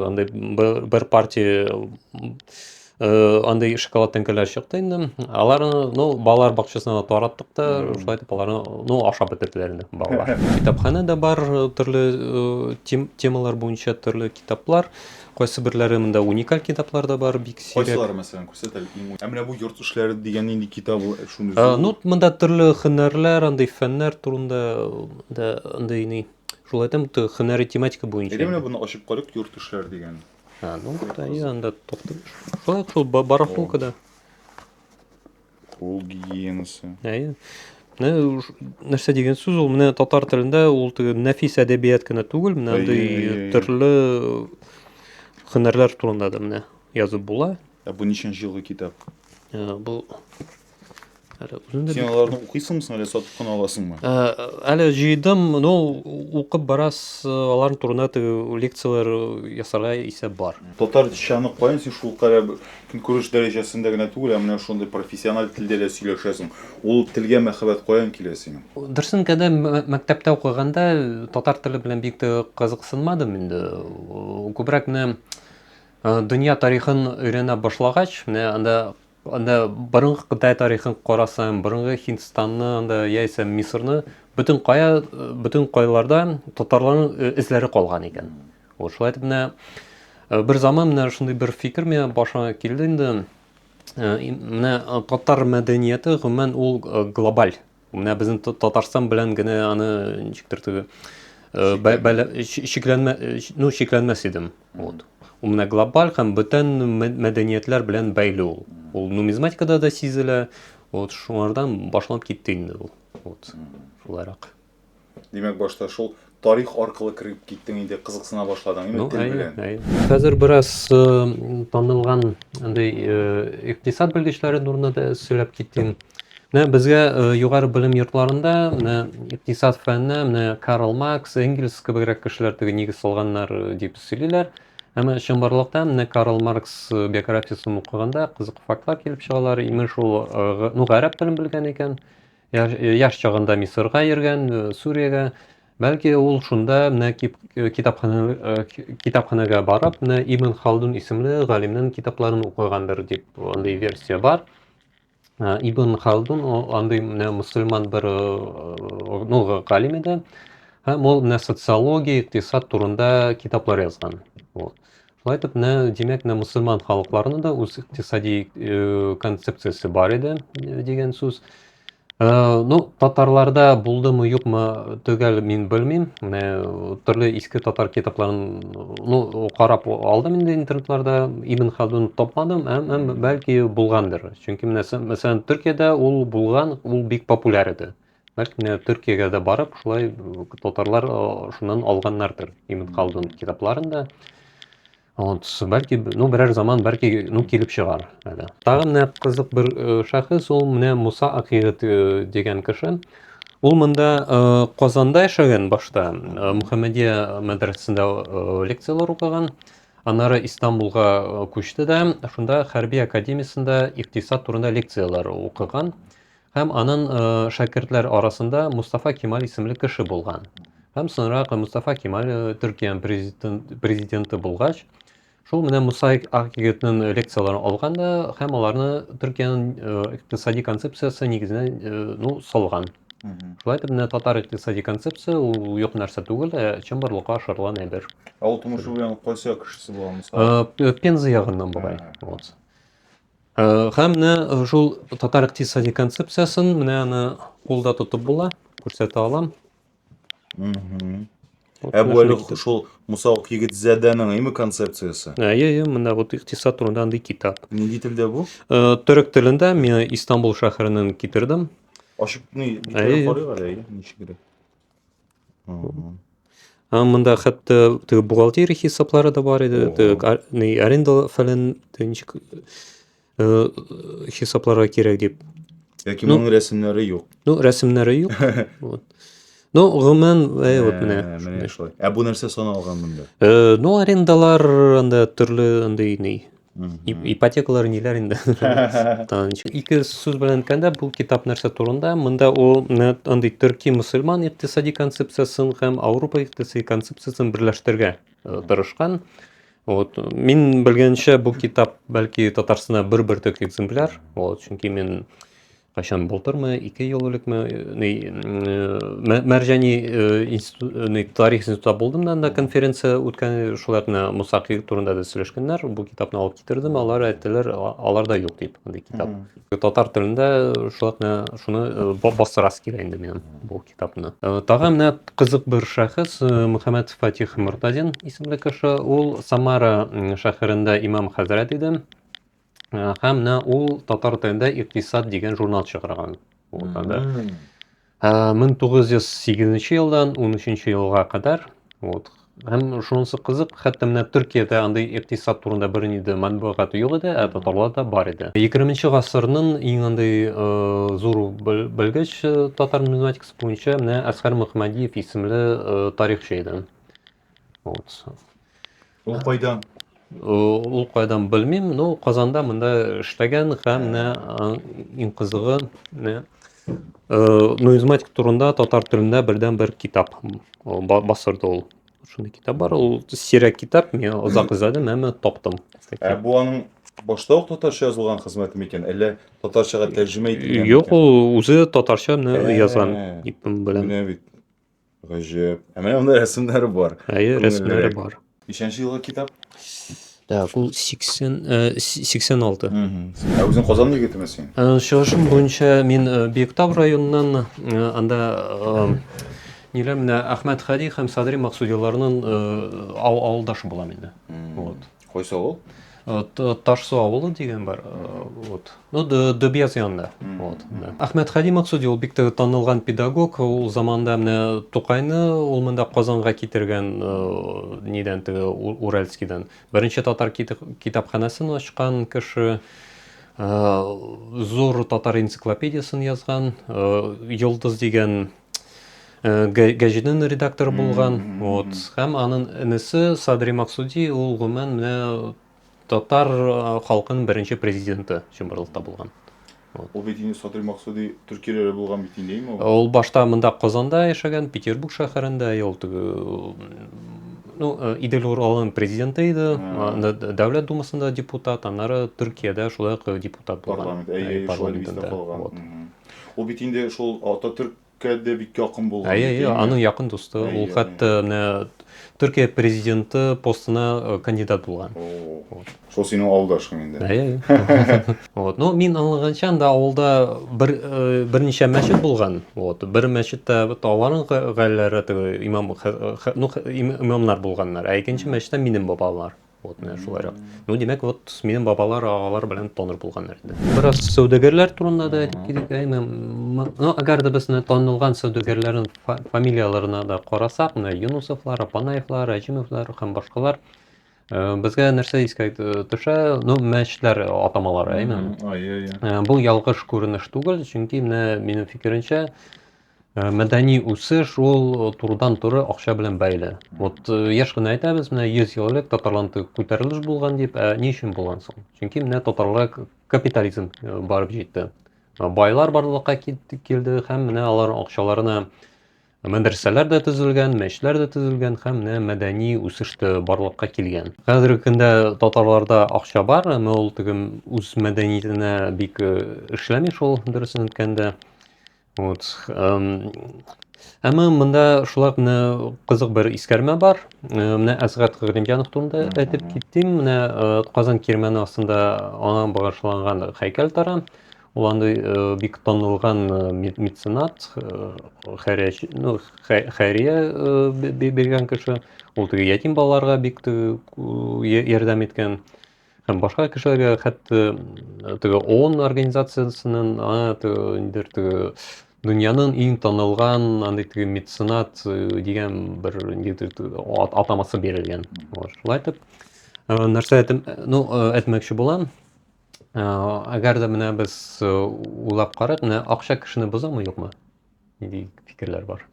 андай бер партия э, андай шоколад тәңкәләр чыкты инде аларны ну балалар бакчасына тараттык та шулай итеп аларны ну ашап бетерделәр инде балалар китапханә дә бар төрле э, темалар буенча төрле китаплар Кайсыберләре монда уникаль китаплар да бар, бик сирәк. Кайсылары, мәсәлән, күрсәт әле иң уникаль. Ә менә бу йорт эшләре дигән нинди китап ул? Шундый зур. Ну, монда төрле һөнәрләр, андый фәннәр турында да андый ни. Шул әйтәм, бу һөнәри тематика буенча. Әйдә менә буны ачып карыйк, йорт эшләре дигән. А, ну, да, анда тохтым. Шулай шул барахолкада. Кул гигиенасы. Әйе. Менә нәрсә дигән сүз ул? Менә татар телендә ул теге нәфис әдәбият кенә түгел, менә андый төрле һөнәрләр турында да менә язып була. Ә бу ничәнче елгы китап? Ә, бу әле үзем Син аларны укыйсыңмы соң, әле сатып кына аласыңмы? Ә, әле җыйдым, ну, укып барас, аларның турында теге лекцияләр ясарга исәп бар. Татарчаны каян син шул кадәр Көнкүреш дәрәҗәсендә генә түгел, ә менә шундый профессиональ телдә дә сөйләшәсең. Ул телгә мәхәббәт каян килә синең? Дөресен генә, мәктәптә укыганда татар теле белән бик тә кызыксынмадым инде. Күбрәк менә дөнья тарихын өйрәнә башлагач, менә анда анда борынгы Кытай тарихын карасаң, борынгы Һиндстанны анда яисә Мисырны бөтен кая бөтен кайларда татарларның эзләре калган икән. Вот шулай итеп менә э, бер заман менә шундый бер фикер миңа башыма килде инде. Э, менә э, татар мәдәнияте гомумән ул глобаль. Менә безнең Татарстан белән генә аны ничектер теге шикләнмә ну шикләнмәс идем. Вот. Ул менә глобаль һәм бөтен мәдәниятләр белән бәйле ул. Ул нумизматикада да сизелә. Вот шуңардан башланып китте инде ул. Вот. Шулайрак. Димәк, башта шул тарих аркылы кереп киттең инде, кызыксына башладың инде ну, тел белән. Хәзер бераз э, танылган андый э, икътисад белгечләре турында да сөйләп киттем. Менә безгә э, югары белем йортларында менә икътисад фәнне менә Карл Маркс, Энгельс кебегрәк кешеләр теге нигез салганнар э, дип сөйлиләр. Әмма чынбарлыкта менә Карл Маркс э, биографиясен укыганда кызык фактлар килеп чыгалар. Имеш ул ну гарәп телен белгән икән. Яш чагында Мисырга йөргән, Сүриягә. Бәлки ул шунда менә китапханәгә китапханәгә барып, менә Ибн Халдун исемле галимнең китапларын укыгандыр дип андый версия бар. Ибн Халдун андый менә мусульман бер ну галим иде. Һәм ул менә социология, икътисад турында китаплар язган. Вот. Шулай итеп, менә, димәк, менә мөселман халыкларының да үз икътисади концепциясе бар иде дигән сүз. Э, ну татарларда булдымы юкмы төгәл мин белмим менә төрле иске татар китапларын ну карап алдым инде интернетларда ибн хадун тапмадым әм, әм бәлки булгандыр чөнки менә мәсәлән төркиядә ул булган ул бик популяр иде Значит, менә Төркиягә дә барып, шулай татарлар шуннан алганнардыр Имин Халдун китапларын да. Вот, бәлки, ну, берәр заман, бәлки, ну, килеп чыгар. Әле. Тагы менә кызык бер шәхес, ул менә Муса Акыйгыт дигән кеше. Ул монда Казанда яшәгән башта, Мухаммадия мәдрәсәсендә лекцияләр укыган. Аннары Истанбулга күчте дә, шунда хәрби академиясендә иктисад турында лекцияләр укыган. Һәм анын шәкертләр арасында Мустафа Кемаль исемле кеше булган. Һәм соңрак Мустафа Кемаль Төркиянең президенты булгач, шул менә Мусаик Акъегетнең лекцияләрен алган да һәм аларны Төркиянең икътисади концепциясе нигезенә ну салган. Шулай итеп, менә татар икътисади концепция ул юк нәрсә түгел, ә чынбарлыкка ашырылган әйбер. Ә ул тумышы белән кайсы кешесе булган Муса? Пенза ягыннан бугай. Вот. Э, Һәм менә э, шул татар икътисади концепциясен менә аны кулда тотып була, күрсәтә алам. Мгм. Вот Ә менә бу әле шундый китап. шул Муса Акъегетзадәнең име концепциясе? Ә, Әйе, әйе, менә вот икътисад турында андый китап. Нинди телдә бу? Э, Төрек телендә мин Истанбул шәһәреннән китердем. Ачып ни Әйе. битәрәк карыйк әле, әйе, ничегрәк. Ә монда хәтта теге бухгалтерия хисаплары да бар иде, теге ни аренда фәлән ничек э, хисапларга кирәк дип. Яки ну, моның рәсемнәре юк. Ну, рәсемнәре юк. вот. Ну, гомумән, әй, вот менә. Менә шулай. Ә бу нәрсә саналган монда? Э, ну, арендалар анда төрле андый ни. ипотекалар ниләр инде ике сүз белән әйткәндә бу китап нәрсә турында монда ул андый төрки мөселман икътисади концепциясен һәм ауропа икътисади концепциясен берләштерергә э, тырышкан вот мин белгәнчә бу китап бәлки татарстанда бер бөртек экземпляр вот чөнки мин Кайчан былтырмы, ике ел элекме, ни, Мәрҗани институт, тарих институтта булдым да, анда конференция үткән, шулай гына Муса Кыйгы турында да сөйләшкәннәр, бу китапны алып китердем, алар әйттеләр, аларда юк дип, андый китап. Татар телендә шулай гына шуны бастырасы килә инде минем бу китапны. Тагы менә кызык бер шәхес, Мөхәммәт Фатих Мортазин исемле кеше, ул Самара шәһәрендә имам хәзрәт иде. Һәм менә ул татар телендә Иктисад дигән журнал чыгарган. Ул анда 1908 елдан 13 елга кадәр вот һәм шунысы кызык хәтта менә төркиядә андый икътисад турында бер инде матбугат юк иде ә татарларда бар иде егерменче гасырның иң андый э, зур белгеч э, татар нумизматикасы буенча менә әсхәр мөхмәдиев исемле э, тарихчы иде вот Ул кайда? Ул кайдан белмим, но Казанда монда эшләгән һәм менә иң кызыгы менә нумизматик турында татар телендә бердән бер китап басырды ул. Шундый китап бар, ул сирәк китап, мин озак эзләдем, әмма таптым. Ә бу аның башта ук татарча язылган хезмәте микән, әллә татарчага тәрҗемә ителгән? Юк, ул үзе татарча язган, дип беләм. Менә бит. Гаҗәп. Ә менә монда рәсемнәре бар. Әйе, рәсемнәре бар. Ничәнче елгы китап? Так, ул 80 86. Ә үзең Казан егетеме син? Чыгышым буенча мин Биектау районыннан, анда ниләр менә Әхмәт Хади һәм Садри Максудиларның авылдашы булам инде. Вот. Кайсы авыл? Ташсу авылы дигән бар. Вот. Ну, Дөбияз янында. Вот. Әхмәт Хәди Максуди ул бик танылган педагог. Ул заманда менә Тукайны ул монда Казанга китергән нидән теге Уральскидан. Беренче татар китапханәсен ачкан кеше. Зур татар энциклопедиясен язган. Йолдыз дигән Э, гәҗитнең редакторы булган вот һәм анын энесе садри максуди ул гомумән менә татар э, халкының беренче президенты чынбарлыкта булган ул бит инде садри максуди төркияләре булган бит инде ул ул башта монда казанда яшәгән петербург шәһәрендә ул ну э, идел уралын президенты иде дәүләт думасында депутат аннары төркиядә шулай ук депутат булган парламент әйе парламентында Ул бит инде шул Ататөрккә дә бик якын булган. Әйе, әйе, аның якын дусты. Ул хәтта менә Төркия президенты постына э, кандидат булган. Шул синең авылдашың инде. Әйе. Вот, ну мин аңлаганча анда авылда бер э, берничә мәчет булган. Вот, бер мәчеттә аларның гаиләләре имам ну имамнар булганнар, ә икенче мәчеттә минем бабалар. Вот менә шулайрак. Ну, димәк, вот минем бабалар, агалар белән тонор булганнар инде. Бераз сәүдәгәрләр турында да әйтеп китик. Әйме, ну, әгәр дә без менә танылган сәүдәгәрләрнең фамилияләренә дә карасак, менә Юнусовлар, Апанаевлар, Әҗимовлар һәм башкалар э, безгә нәрсә искә төшә? Ну, мәчетләр атамалары, әйме. Бу ялгыш күренеш түгел, чөнки менә минем фикеремчә, Э, мәдәни үсеш ул э, турыдан туры акча белән бәйле вот э, еш кына әйтәбез менә йөз ел элек татарларда күтәрелеш булган дип ә ни өчен булган соң чөнки менә татарлар капитализм барып җитте байлар барлыкка килде һәм менә алар акчаларына мәдрәсәләр дә төзелгән мәчетләр дә төзелгән һәм менә мәдәни үсеш тә барлыкка килгән хәзерге көндә татарларда акча бар әмма ул теге үз мәдәниятенә бик эшләми шул дөресен әйткәндә Вот. Әмма монда шулай менә кызык бер искәрмә бар. Менә Әсгат Гыйлемҗанов турында әйтеп киттем. Менә Казан кирмәне астында аңа багышланган һәйкәл тора. Ул андый бик танылган меценат, хәрәч, ну, хәрия биргән кеше. Ул теге ятим балаларга бик ярдәм иткән. һәм башка кешеләргә хәтта теге ООН организациясеннән ниндер теге дөньяның иң танылган андый теге меценат дигән бер ниндидер атамасы бирелгән шулай итеп нәрсә әйтем ну әйтмәкче булам әгәр дә менә без уйлап карыйк менә акча кешене бозамы юкмы нинди фикерләр бар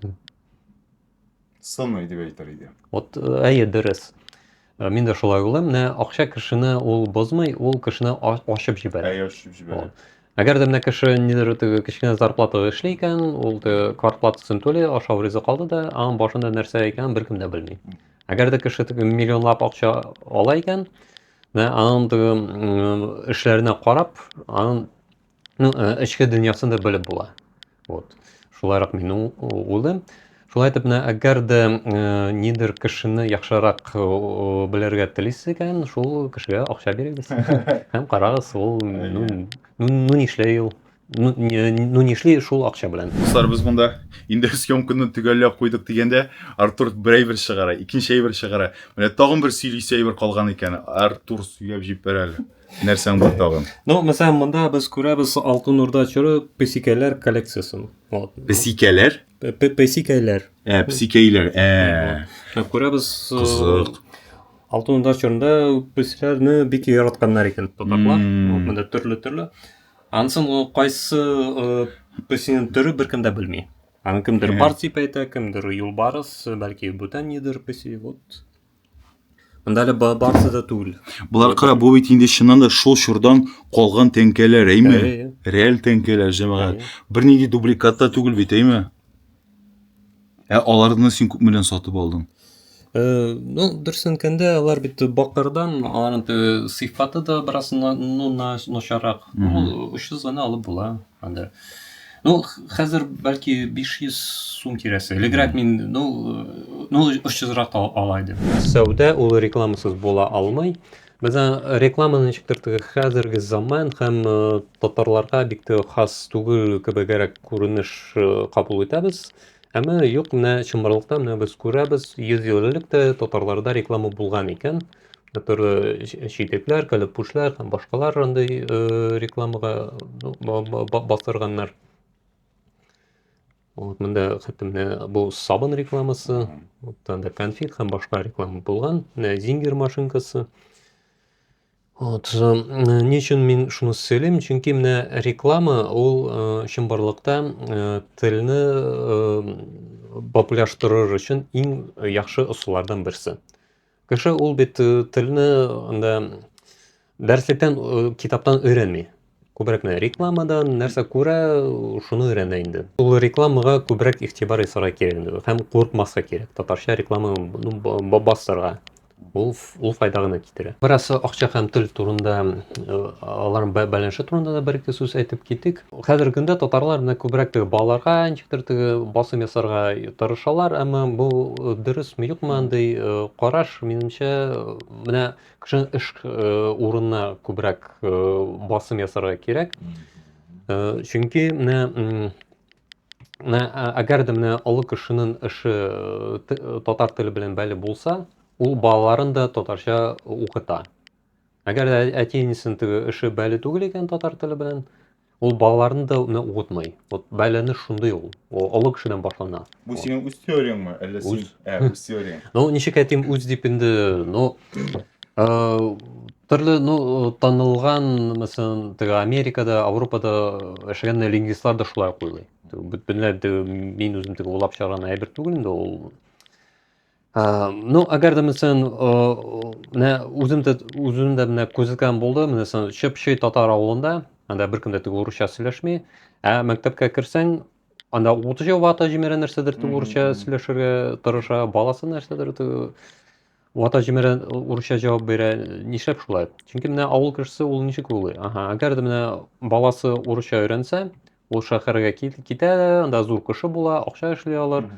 сыный дип әйтер иде. Вот, э, әйе, дөрес. Э, мин дә шулай уйлыйм. Менә акча кешене ул бозмый, ул кешене ачып җибәрә. Әйе, ачып җибәрә. Әгәр дә менә кеше нидер теге кечкенә зарплатага эшли икән, ул теге квартплатасын түли, ашау ризык алды да, аның башында нәрсә икәнен беркем дә белми. Әгәр дә кеше теге миллионлап акча ала икән, менә аның теге эшләренә карап, аның ну, э, эчке дөньясын да белеп була. Вот. Шулайрак мин улым. Шулай итеп, менә әгәр дә э, нидер кешене яхшырак э, белергә телисез икән, шул кешегә акча бирегез. Һәм карагыз, ул ну, ну, ну нишләй ул? Ну, ну нишли шул акча белән. Дуслар, без монда инде съемканы төгәлләп куйдык дигәндә, Артур бер әйбер чыгара, икенче әйбер чыгара. Менә тагын бер сөйлисе әйбер калган икән. Артур сөйләп җибәрәле. Нәрсәң бар тагын? Ну, мәсәлән, монда без күрәбез Алтын Урда чоры песикәләр коллекциясен. Вот. Песикәләр? Песикәләр. Ә, песикәйләр. Ә. Күрәбез. Кызык. Алтын Урда чорында песикәләрне бик яратканнар икән татарлар. Монда төрле-төрле. Ансын кайсы песинең төре беркем дә белми. Аны кемдер бар дип әйтә, кемдер юлбарыс, бәлки бүтән нидер песи. Вот. Монда әле барысы да түгел. Болар кара, бу бит инде чыннан да шул чордан калган тәңкәләр, әйме? Реаль тәңкәләр, җәмәгать. Бернинди дубликат та түгел бит, әйме? Ә аларны син күп белән сатып алдың? Э, ну, дөресен әйткәндә, алар бит бакырдан, аларның сыйфаты да бераз ну, начаррак. Ул очсыз гына алып була. Анда Ну, хәзер бәлки 500 сум тирәсе. Элегрәк мин, ну, ну 300 рак ала идем. Сәүдә ул рекламасыз була алмый. Бездә реклама ничектер теге хәзерге заман һәм э, татарларга бик тә хас түгел кебегрәк күренеш э, кабул итәбез. Әмма юк, менә чынбарлыкта менә без күрәбез, 100 ел элек тә татарларда реклама булган икән. Төрле читекләр, кәләпүшләр һәм башкалар андый рекламага бастырганнар. Вот монда хәтемне бу сабын рекламасы, оттан да конфет һәм башка реклама булган. Менә зингер машинкасы. Вот, ни өчен мин шуны сөйлим? Чөнки менә реклама ул чынбарлыкта телне популярлаштырыр өчен иң яхшы ысуллардан берсе. Кеше ул бит э, телне анда дәреслектән, э, китаптан өйрәнми. Күбрәк менә рекламадан нәрсә күрә, шуны өйрәнә инде. Ул рекламага күбрәк игътибар ясарга кирәк инде. Һәм курыкмаска кирәк. Татарча реклама ну, ба- бастырга. Ул, ф- ул файда гына китерә. Бераз акча һәм тел турында, э, аларның бә- бәләнше турында да бер-ике сүз әйтеп китик. Хәзерге көндә татарлар менә күбрәк теге балаларга ничектер теге басым ясарга тырышалар, әмма бу э, дөресме юкмы андый э, караш минемчә э, менә кешенең эш э, урынына күбрәк э, басым ясарга кирәк. Э, чөнки менә м, менә ә- әгәр дә менә олы кешенең эше э, т- татар теле белән бәйле булса, ул балаларын да татарча укыта. Әгәр дә әти-әнисен теге эше бәле түгел икән татар теле белән, ул балаларны да үтне укытмый. Вот бәләне шундый ул. Ул олы кешедән башлана. Бу синең үз теорияңме, әллә син? Ә, үз теорияң. Ну, ничек әйтим, үз дип инде, ну, э, төрле, ну, танылган, мәсәлән, теге Америкада, Европада эшләгән лингвистлар да шулай уйлый. Бөтенләй мин үзем теге улап чыгарган әйбер түгел инде ул. Ну, әгәр дә мисен, менә үзем дә үзем дә менә күзәткән булды, менә сон чыпчы татар авылында, анда беркем дә тик урысча сөйләшми. Ә мәктәпкә керсәң, анда утыжы вата җимерә нәрсәдер тик урысча сөйләшергә тырыша, баласы нәрсәдер вата җимерә урысча җавап бирә. Нишләп шулай? Чөнки менә авыл кешесе ул ничек уйлый? Ага, әгәр дә менә баласы урысча өйрәнсә, Ул шәһәргә китә, анда зур кеше була, акча эшли алыр.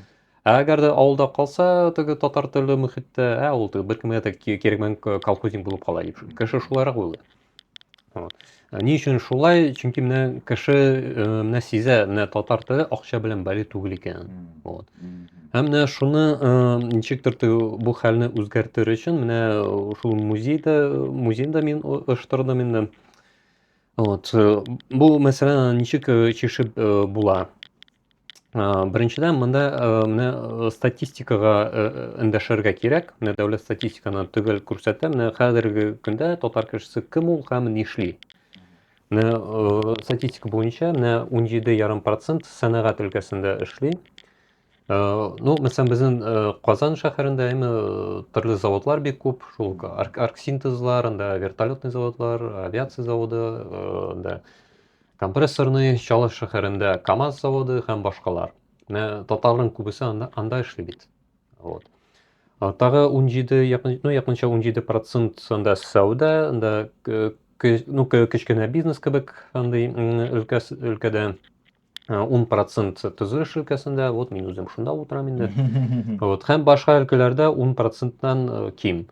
Ә әгәр дә авылда калса, теге татар телле мөхиттә, ә ул теге беркемгә дә кирәкмәгән колхозник булып кала дип. Кеше шулайрак уйлый. Вот. Ә ни өчен шулай? Чөнки менә кеше э, менә сизә, менә татар теле акча белән бәли түгел икән. Вот. Һәм менә шуны э, ничектер бу хәлне үзгәртер өчен менә э, шул музейда музейда мин оештырдым инде. Вот, э, бу мәсьәләне аны ничек, э, чишеп, э, була? Э, беренчедән, монда, э, менә, э, статистикага, э, э, эндәшергә кирәк. Менә дәүләт статистиканы төгәл күрсәтә. Менә хәзерге көндә татар кешесе кем ул һәм нишли? Менә, э, статистика буенча, менә 17,5 процент сәнәгать өлкәсендә эшли. Э, ну мәсәлән безнең э, казан шәһәрендә әйме э, төрле заводлар бик күп шул арк арксинтезлар анда вертолетный заводлар авиация заводы анда компрессорный чаллы шәһәрендә камаз заводы һәм башкалар менә татарларның күбесе анда, анда эшли бит вот тагы унҗиде якын ну якынча унҗиде процент анда сәүдә анда ну кечкенә бизнес кебек андый өлкәс өлкәдә ун э, процент тзы шилкәсендә вот мин үзем шунда утырам инде вот һәм башка өлкәләрдә ун проценттан э, ким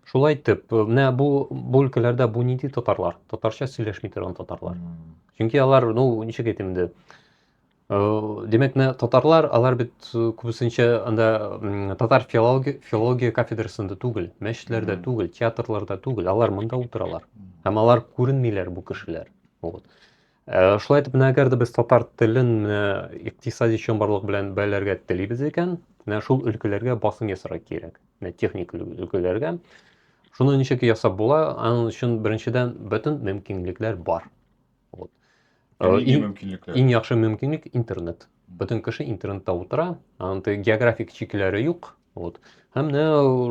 шулай итеп э, менә бу бу өлкәләрдә бу нинди татарлар татарча сөйләшми торган татарлар чөнки алар ну ничек әйтим инде демәк менә татарлар алар бит күбесенчә анда татар филология филология кафедрасында түгел мәчетләрдә түгел театрларда түгел алар монда утыралар һәм алар күренмиләр бу кешеләр вот Э, шулай итеп, менә әгәр дә без татар телен менә икътисади чынбарлык белән бәйләргә телибез икән, менә шул өлкәләргә басым ясарга кирәк. Менә техник өлкәләргә. Шуны ничек ясап була? Аның өчен беренчедән бөтен мөмкинлекләр бар. Вот. Э, иң, иң яхшы мөмкинлек интернет. Бөтен кеше интернетта утыра, анда географик чикләре юк, Вот. Һәм менә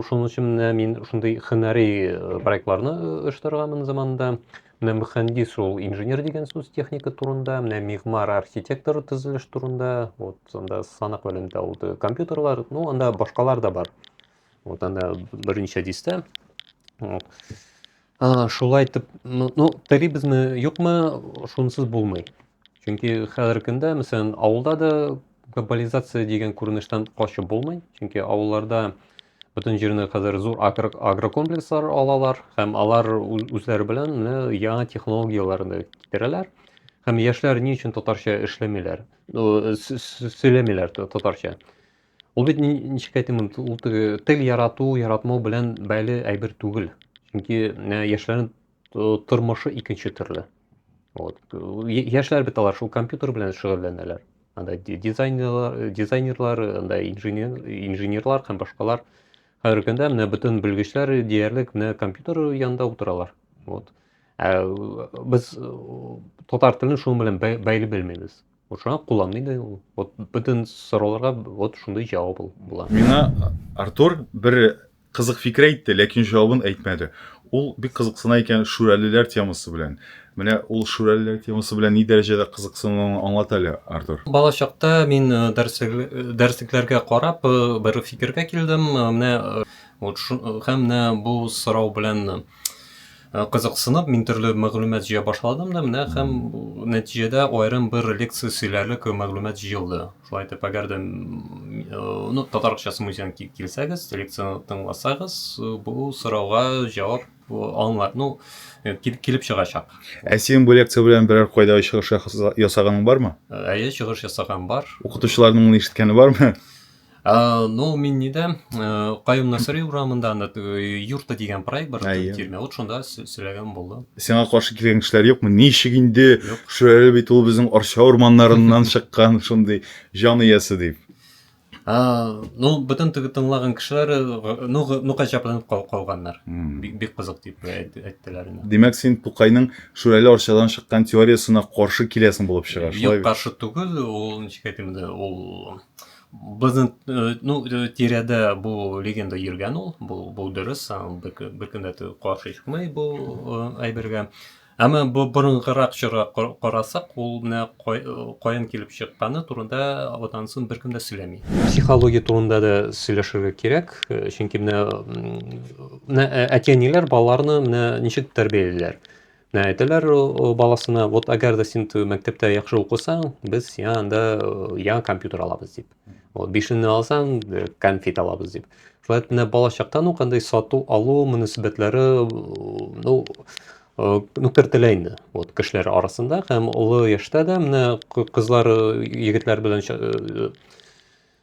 шуның өчен менә мин шундый хөнәри э, проектларны э, оештырганмын заманында. Менә мөхәндис ул инженер дигән сүз техника турында, менә мигмар архитектор төзелеш турында, вот анда санак белән дә ул компьютерлар, ну анда башкалар да бар. Вот анда берничә дистә. Вот. А, шулай итеп, ну, ну терибезме, юкмы, шунсыз булмый. Чөнки хәзерге көндә, мәсәлән, авылда да глобализация дигән күренештән качып булмый. Чөнки авылларда бөтен җирне хәзер зур агро- агрокомплекслар алалар һәм алар ү- үзләре белән менә яңа технологияләрне китерәләр. Һәм яшьләр ни өчен татарча эшләмиләр? Ну, с- с- сөйләмиләр та- татарча. Ул бит ничек әйтим, ул тел ярату, яратмау белән бәйле әйбер түгел. Чөнки яшьләрнең тормышы икенче төрле. Вот. Яшьләр бит алар шул компьютер белән шөгыльләнәләр. Анда дизайнерлар, дизайнерлар, анда инженер, инженерлар һәм башкалар. Хәзерге көндә менә бөтен белгечләр диярлек менә компьютер янында утыралар. Вот. Ә, без татар телен шуның белән бәйле белмибез. Шуңа куллан инде ул. Вот бөтен сорауларга вот шундый җавап ул була. Миңа Артур бер кызык фикер әйтте, ләкин җавабын әйтмәде. Ул бик кызыксына икән шүрәлеләр темасы белән. Менә ул шүрәлеләр темасы белән ни дәрәҗәдә кызыксынуын аңлат әле, Артур. Бала чакта мин э, дәреслек- э, дәреслекләргә карап э, бер фикергә килдем. Э, Менә э, вот шу- э, һәм менә бу сорау белән Э, кызыксынып мин төрле мәгълүмат җыя башладым да менә һәм нәтиҗәдә аерым бер лекция сөйләрлек мәгълүмат җыелды шулай итеп әгәр дә э, ну татарчасы музеен килсәгез лекцияны тыңласагыз э, бу сорауга җавап аңлар ну килеп чыгачак ә синең бу лекция белән берәр кайда чыгыш ясаганың бармы әйе чыгыш ясаган бар укытучыларның моны ишеткәне бармы Э, ну мин нидә э, каюм насыри урамында анда э, юрта дигән проект бар тирмә вот шунда сөйләгән булды сиңа каршы килгән кешеләр юкмы ничек инде шул әле бит ул безнең арча урманнарыннан чыккан шундый җан иясе дип ну бөтен теге тыңлаган кешеләр ну ну гаҗәпләнеп калганнар бик бик кызык дип әйттеләр димәк син тукайның шүрәле арчадан чыккан теориясына каршы киләсең булып чыга шулай юк каршы түгел ул ничек әйтим инде ул Безнең э, ну, э, тирәдә бу легенда йөргән ул, бу, бу дөрес, бер көн дә каршы чыкмый бу э, әйбергә. Әмма бу борынгырак чора карасак, ул менә каян килеп чыкканы турында одан соң беркем дә сөйләми. Психология турында да сөйләшергә кирәк, чөнки менә әти-әниләр балаларны менә ничек тәрбиялиләр. Менә әйтәләр ул ул баласына, вот әгәр дә син ту- мәктәптә яхшы укысаң, без сиңа анда э, яңа компьютер алабыз дип. Вот бишенне алсаң, э, конфет алабыз дип. Шулай итеп, менә балачактан ук андый сату алу мөнәсәбәтләре э, ну э, ну кертелә инде вот кешеләр арасында һәм олы яшьтә дә менә кы- кызлар э, егетләр белән ча- э,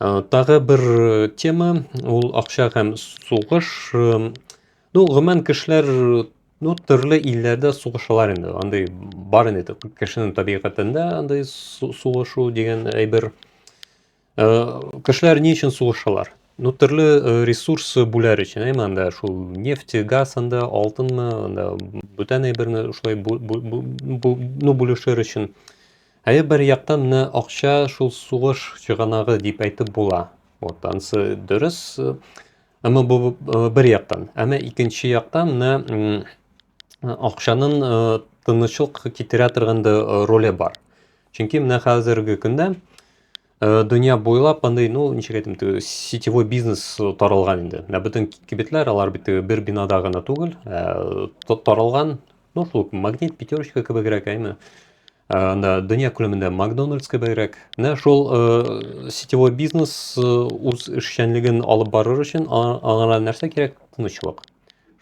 Э, тагы бер э, тема ул акча һәм сугыш э, ну гомумән кешеләр ну төрле илләрдә сугышалар инде андый бар инде кешенең табигатендә андый сугышу дигән әйбер кешеләр ни өчен сугышалар ну төрле ресурс бүләр өчен әйме анда шул нефть газ анда алтынмы анда бүтән әйберне шулай ну бүлешер өчен Әйе, бер яктан менә акча шул сугыш чыганагы дип әйтеп була. Вот ансы дөрес. Әмма бу бер яктан. Әмма икенче яктан менә акчаның тынычлык китерә торган да роле бар. Чөнки менә хәзерге көндә Э, дөнья буйлап андый, ну, ничек әйтим, т- сетевой бизнес э, таралган инде. Менә бөтен ки- кибетләр, алар бит э, бер бинада гына түгел, э, та- таралган, ну, шул ук магнит, пятерочка кебегрәк, әйме. Э, Анда дөнья күләмендә Макдональдс кебегрәк. Менә шул э, сетевой бизнес э, үз эшчәнлеген алып барыр өчен а- аңа нәрсә кирәк? Тынычлык.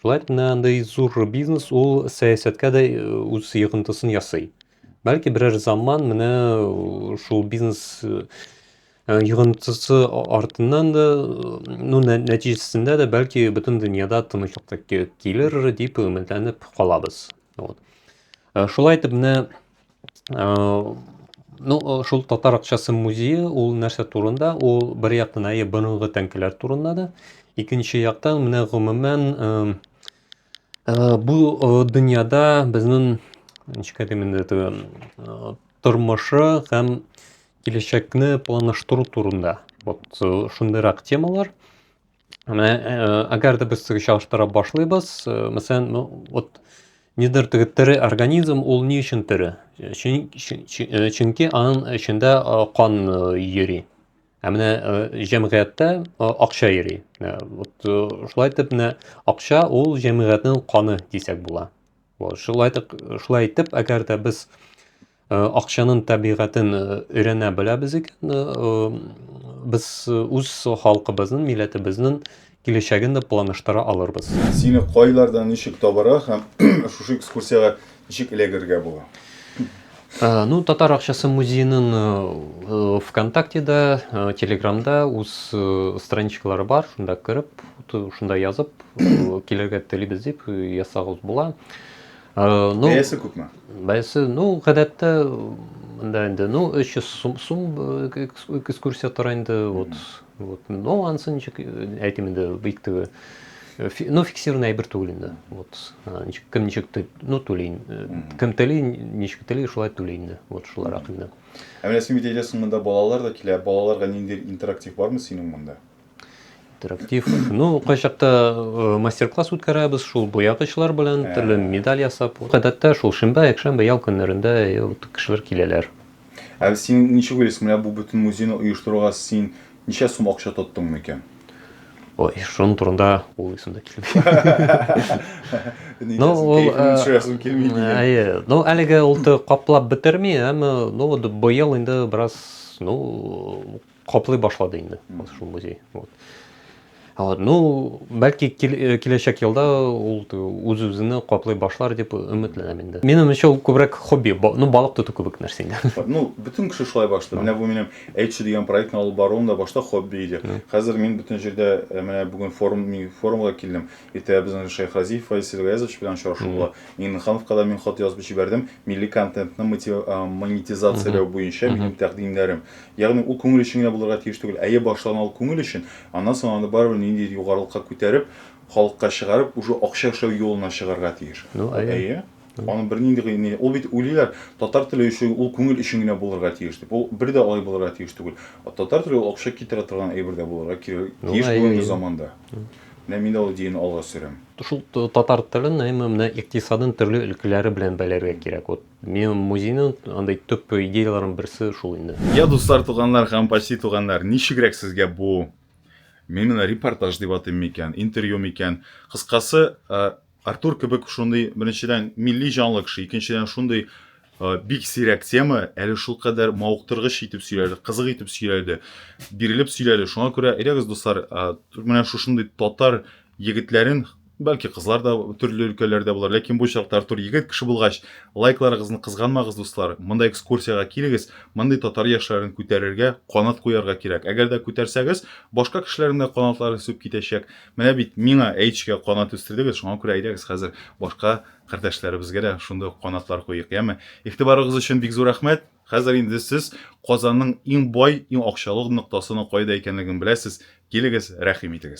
Шулай итеп, менә андый зур бизнес ул сәясәткә дә э, үз йогынтысын ясый. Бәлки берәр заман менә э, шул бизнес э, э, йогынтысы артыннан да, ну, нәтиҗәсендә дә бәлки бөтен дөньяда тынычлык та килер дип өметләнеп калабыз. Вот. Шулай итеп менә Ну, э, шул татар акчасы музее ул нәрсә турында? Ул бер яктан әйе борынгы тәңкәләр турында да, икенче яктан менә гомумән э, Э, бу э, дөньяда безнең ничек әйтим инде теге э, тормышы һәм киләчәкне планлаштыру турында вот шундыйрак темалар менә әгәр дә без теге чагыштыра башлыйбыз мәсәлән ну вот нидер теге тере организм ул ни өчен тере чөнки аның эчендә кан йөри Ә менә э, җәмгыятьтә э, акча йөри. Э, вот шулай итеп менә акча ул җәмгыятьнең каны дисәк була. Вот шулай итеп, шулай итеп, әгәр дә без акчаның табигатен өйрәнә беләбез икән, без үз халкыбызның, милләтебезнең Киләчәген дә планлаштыра алырбыз. Сине кайларда ничек табарга һәм шушы экскурсиягә ничек эләгергә була? Ну, Татар акчасы музееның ВКонтактеда, Телеграмда үз страничкалары бар, шунда кереп, шунда язып, килергә телибез дип язсагыз була. Ну, Бәясе күпме? Бәясе, ну, гадәттә монда инде, ну, 300 сум экскурсия тора инде, вот. Вот. Но анысы ничек әйтим инде бик теге ну фиксированный әйбер түгел инде. Вот. Ничек кем ничек ну түли. Кем тели, ничек тели, шулай түли инде. Вот шуларак инде. Ә менә син әйтәсең монда балалар да килә. Балаларга ниндидер интерактив бармы синең монда? Интерактив. Ну, кайчакта э, мастер-класс үткәрәбез шул буягычлар белән, төрле медаль ясап. Гадәттә шул шимбә, якшәмбе, ял көннәрендә э, кешеләр киләләр. Ә син ничек уйлыйсың, менә бу бөтен музейны оештыруга син ничә сум акча тоттың микән? Ой, шуның турында уйлыйсым да килми. Ну, ул шуясым килми дигән. Әйе. Ну, әлеге ул каплап бетерми, әмма ну, быел инде бераз, ну, Каплый башлады инде шул музей. Вот. Вот, ну, бәлки э, киләчәк елда ул үз-үзенә каплый башлар дип өметләнәм инде. Минем өчен ул күбрәк хобби, ну, балык тоту кебек нәрсә инде. Ну, бөтен кеше шулай башлады. Менә бу минем Эйчи дигән проектны алып баруым да башта хобби иде. Хәзер мин бөтен җирдә э, менә бүген форум форумга килдем. Иртә безнең Шейх Разиф Файсил Гаязович белән очрашу була. Миңнехановка да мин хат язып җибәрдем. Милли контентны э, монетизацияләү буенча минем тәкъдимнәрем. Ягъни, ул күңел өчен генә булырга тиеш түгел. Әйе, башта гына ул күңел өчен, аннан соң аны барыбер ниндидер югарылыкка күтәреп, халыкка чыгарып, уже акча эшләү юлына чыгарга тиеш. Ну, әйе. Әйе. Аның бернинди гы ни, ул бит уйлыйлар, татар теле өчен ул күңел өчен генә булырга тиеш дип. Ул бер дә алай булырга тиеш түгел. Татар теле ул акча китерә торган әйбер дә булырга кирәк, Ну, тиеш әйе, бүгенге әйе. заманда. Менә мин дә ул идеяне алга сөрәм. Шул татар телен, әмма менә икътисадын төрле өлкәләре белән бәйләргә кирәк. Вот Минем музейның андый төп идеяләренең берсе шул инде. Я, дуслар, туганнар һәм почти туганнар, ничегрәк сезгә бу, мин менә репортаж дип атыйм микән, интервью микән, кыскасы, Артур кебек шундый, беренчедән, милли җанлы кеше, икенчедән, шундый бик сирәк тема, әле шулкадәр мавыктыргыч итеп сөйләде, кызык итеп сөйләде, бирелеп сөйләде. Шуңа күрә, әйдәгез, дуслар, менә шушындый татар егетләрен Бәлки кызлар да төрле өлкәләрдә булыр, ләкин бу очракта Артур егет кеше булгач, лайкларыгызны кызганмагыз, дуслар. Монда экскурсиягә килегез, мондый татар яшьләрен күтәрергә, канат куярга кирәк. Әгәр дә күтәрсәгез, башка кешеләрнең дә канатлары үсеп китәчәк. Менә бит миңа Әйчкә канат үстердегез, шуңа күрә әйдәгез хәзер башка кардәшләребезгә дә шундый ук канатлар куйыйк, яме? Игътибарыгыз өчен бик зур рәхмәт. Хәзер инде сез Казанның иң бай, иң акчалы ноктасының кайда икәнлеген беләсез. Килегез, рәхим итегез.